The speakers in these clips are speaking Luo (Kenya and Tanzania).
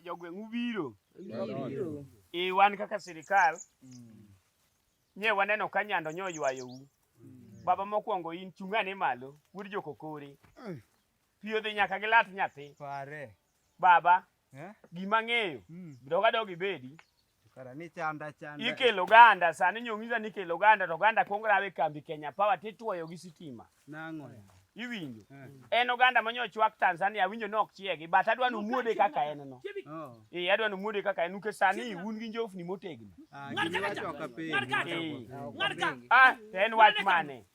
jogweng' ubiro e wan kaka sirikal mm. nye waneno ka nyando nyo oywayou mm. baba mokwongo in chung'ane malo wuod jokokore mm. pi odhi nyaka gi lat nyathi baba eh? gima ng'eyo doga dog ibedi Ikelo ganda sani nyong'iza ni ikelo ganda to ganda kuong rawe kambi Kenya Power tituoyo gi sitima. Nang'o? Iwinjo. Eh. En oganda manyo chwak Tanzania winjo ni ok chiegi but adwa ni umuode kaka en no. Oh. Eh adwa ni umuode kaka en nikech sani un gi njofni motegno. Ah, Ng'arka. Ah, en wach mane?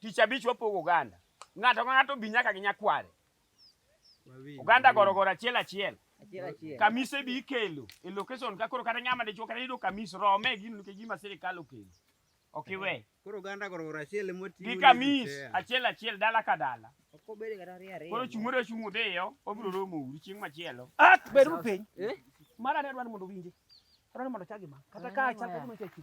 Tich abich wapogo oganda. Ng'ato ka ng'ato bi nyaka gi nyakware. Oganda gorogoro achiel achiel. Kamise bi ikelo e location ka koro kata ng'ama dichuo kata yudo kamis rome gino nikech gima sirikal okelo. Ok iwe. Koro oganda gorogoro achiel ema oting'o. Gi kamis achiel achiel dala ka dala. Koro chung' ore chung' udhiyo, obiro romo uru chieng' machielo. Ah, beru piny. Eh? Mara ne dwaro mondo winje. Dwaro mondo chagi ma. Kata ka achako mondo chagi.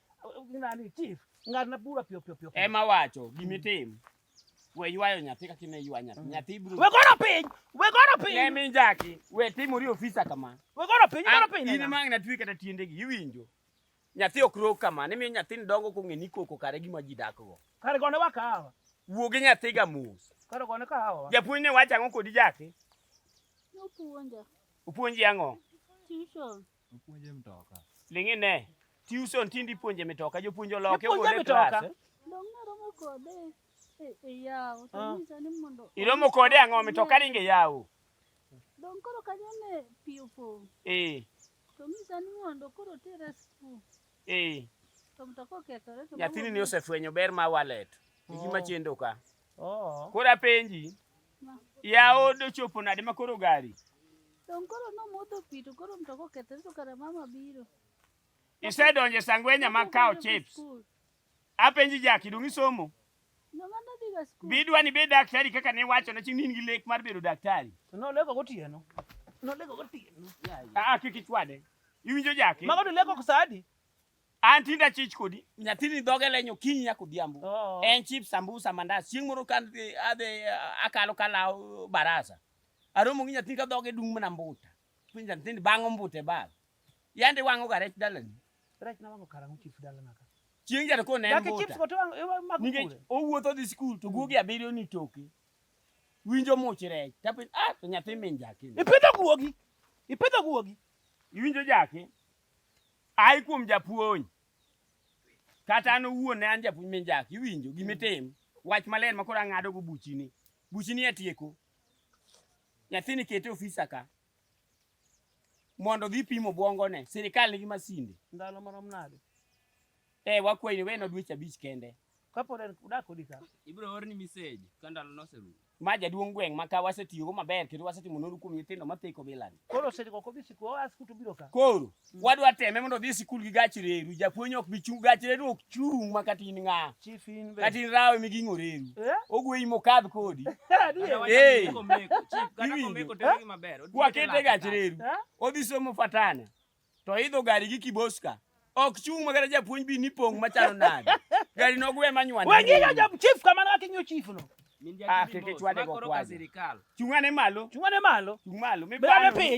Nani chief? Ngat na bura pio pio pio. Ema wacho gimi mm. tim. We ywayo nyathi kaka ne ywa nyathi. Mm. Nyathi buru. We goro piny. We goro piny. Ne min jaki. We timo ri ofisa kama. We goro piny, goro piny. Ini mang na twi kata tiende gi iwinjo. Nyathi ok ro kama. Ne mi nyathi ndongo ko ngeni koko kare gi maji dakgo. Kare gone wakawa. Wuo gi nyathi ga mus. Kare gone kawa. Japuonj ne wacha ngo kodi jaki. Opuonja. Opuonji ango? Tuition. Opuonje mtoka. Lingi ne. Tuition tindi puonje mitoka, jopuonjo loke wuode e klas. Eh? Iromo kode ang'o mitoka ringe yawo? Dong koro kanyo ne pi opong'. Eh. To misa ni mondo koro tere skul. Eh. To mtoka okethore to. Nyathini ni osefwenyo ber ma wallet. Igi oh. machendo ka. Oh. Koro apenji. Yaod ochopo nade ma koro gari? Don koro nomodho pi to koro mtoka okethre to kara mama biro. Isedonjo e sangwenya ma kawo chips. Apenji Jaki, dong' isomo? Bidwa ni bed daktari kaka ne wacho na chini in gi lek mar bedo daktari. To noleko gotieno. Noleko gotieno. Ah, ah kik ichwade. Iwinjo Jaki? Mago to leko kusadi. An tinda chich kodi. Nyathini dhoge lenyo kinyi nyako dhiambo. Oh. En chip sambusa mandas. Chieng' moro kan adhi adhi, uh, akalo kalaw baraza. Aromo gi nyathini ka dhoge dung' mana mbuta. Piny nyathini bang'o mbuta e bag. Yande wang'o ga rech dalani. Rech na wango karang'o chief dala naka. Chieng' jana kone en Dake chips mbuta. go to wang- iwa- mag Nikech kure. owuotho dhi skul to guogi abiriyo ni toke. Winjo much rech. Tapin ah to nyathi min jake. Ipidho guogi. Ipidho guogi. Iwinjo jake. Ai kuom japuonj. Kata an owuon ne an japuonj min jak, iwinjo gimitim. Mm. Wach maler makoro ang'ado go buchini. Buchini atieko. Nyathini kete ofisa ka. Mondo gipimo bwongone. Sirikal nigi masinde. Ndalo marom nade? Eh, wakwayi ni weno dweche abich kende. Kapod en udak kodi ka. Ibiro orni message ka ndalo noserumo. Ma jaduong' gweng' ma ka wasetiyogo maber kendo wasetimo nonro kuom nyithindo matheko bilani. Koro osediko ok odhi sikul, oa sikul to biro ka. Koro wadwa teme mondo odhi sikul gi gach reru. Japuonj ok bi chung' gach reru ok chung' ma kata in ng'a. Chief in be. Kata in rawe miging'o reru. Eh? Ogweyi mokadh kodi. Adier. Eh. Chief, kata Iwinjo. komeko tero gi maber. Odhi Wakete kete gach lak. reru. Eh? Odhi somo fatana. To idho gari gi kiboska. Ok chung' magara japuonj bi ni pong' machalo nade. Gari nogwe manywane. Wengiga ja chief kamano kaka inyo chief no. Ah, keke chwade go kwazi. Chung'ane malo. Chung'ane malo. Chung' malo. Mibane piny.